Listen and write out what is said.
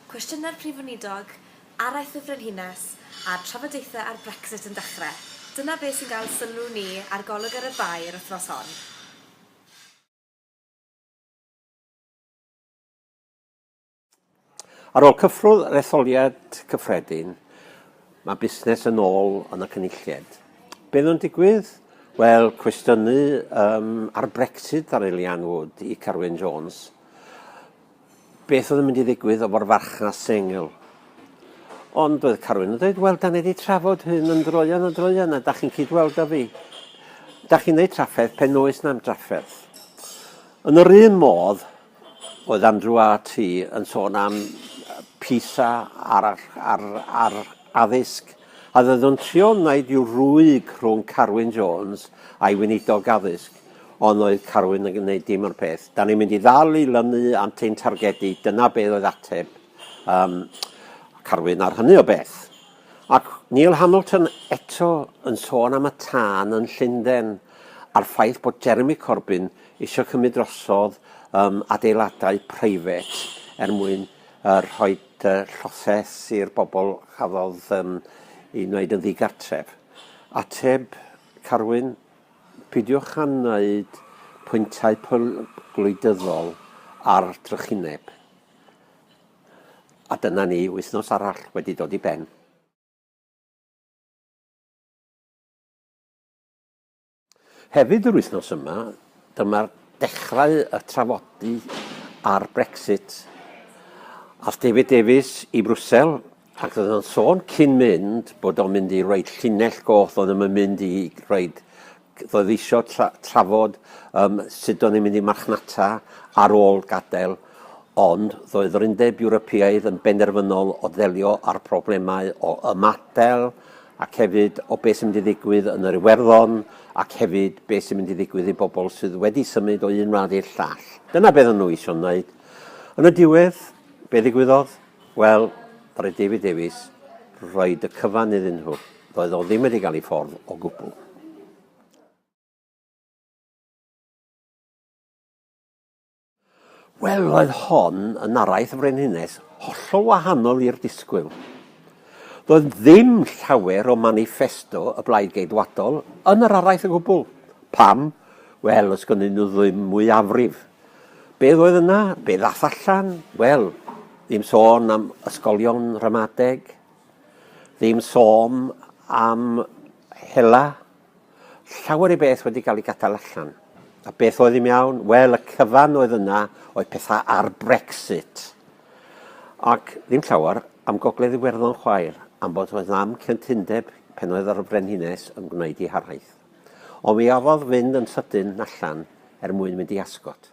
Cwestiynau'r Prif Weinidog, araith y Frenhines, a'r trafodaethau ar Brexit yn dechrau. Dyna beth sy'n cael sylw ni ar Golwg ar y Bae yr wythnos hon. Ar ôl cyffwrdd yr etholiad cyffredin, mae busnes yn ôl yn y Cynulliad. Be oedd yn digwydd? Wel, cwestiynu um, ar Brexit ar Elian Wood i Carwyn Jones. Beth oedd yn mynd i ddigwydd o'r farchnas sengl? Ond oedd Carwyn yn dweud, wel, da ni wedi trafod hyn yn droion a droion, a da chi'n cyd-weld â fi. Da chi'n neud trafferth pen oes na'm drafferth. Yn yr un modd, oedd Andrew a ti yn sôn am PISA ar, ar, ar, ar addysg, a ddoedd o'n trio wneud i'w rwyg rhwng Carwyn Jones a'i weinidog addysg. Ond oedd Carwyn yn gwneud dim o'r peth. Da ni'n mynd i ddal i lynu at ein targedu, dyna beth oedd ateb um, Carwyn ar hynny o beth. Ac Neil Hamilton eto yn sôn am y tân yn Llundain a'r ffaith bod Jeremy Corbyn eisiau cymryd drosodd um, adeiladau private er mwyn uh, rhoi uh, lloses i'r bobl chafodd um, i wneud yn ddigartref. Ateb Carwyn, Peidiwch â wneud pwyntau pur gwleidyddol ar drychineb. A dyna ni, wythnos arall wedi dod i ben. Hefyd yr wythnos yma, dyma'r dechrau y trafodi ar Brexit. Aeth David Davies i Brwsel Ac roedd o'n sôn cyn mynd bod o'n mynd i roed llinell goll, oedd o'n mynd i roed, roedd eisiau tra, trafod um, sut o'n i'n mynd i marchnata ar ôl gadael, ond roedd yr Undeb Ewropeaidd yn benderfynol o ddelio â'r problemau o ymadael ac hefyd o beth sy'n mynd i ddigwydd yn yr Iwerddon ac hefyd beth sy'n mynd i ddigwydd i bobl sydd wedi symud o un wlad i'r llall. Dyna beth o'n nhw eisiau wneud. Yn y diwedd, be ddigwyddodd? Wel, ddaru David Davies roid y cyfan iddyn nhw. Doedd o ddim wedi cael ei ffordd o gwbl. Wel, roedd hon yn araith y Frenhines, hollol wahanol i'r disgwyl. Doedd ddim llawer o manifesto y Blaid Geidwadol yn yr araith o gwbl. Pam? Wel, os gynnyn nhw ddim mwyafrif. Beth oedd yna? Be ddath allan? Wel, ddim sôn am ysgolion ramadeg, ddim sôn am hela, llawer i beth wedi cael ei gadael allan. A beth oedd i'n iawn? Wel, y cyfan oedd yna oedd pethau ar Brexit. Ac ddim llawer am Gogledd Iwerddon chwaer, am bod oedd am cyntundeb pen oedd ar y Frenhines yn gwneud ei haraith. Ond mi orfodd fynd yn sydyn allan er mwyn mynd i Ascot.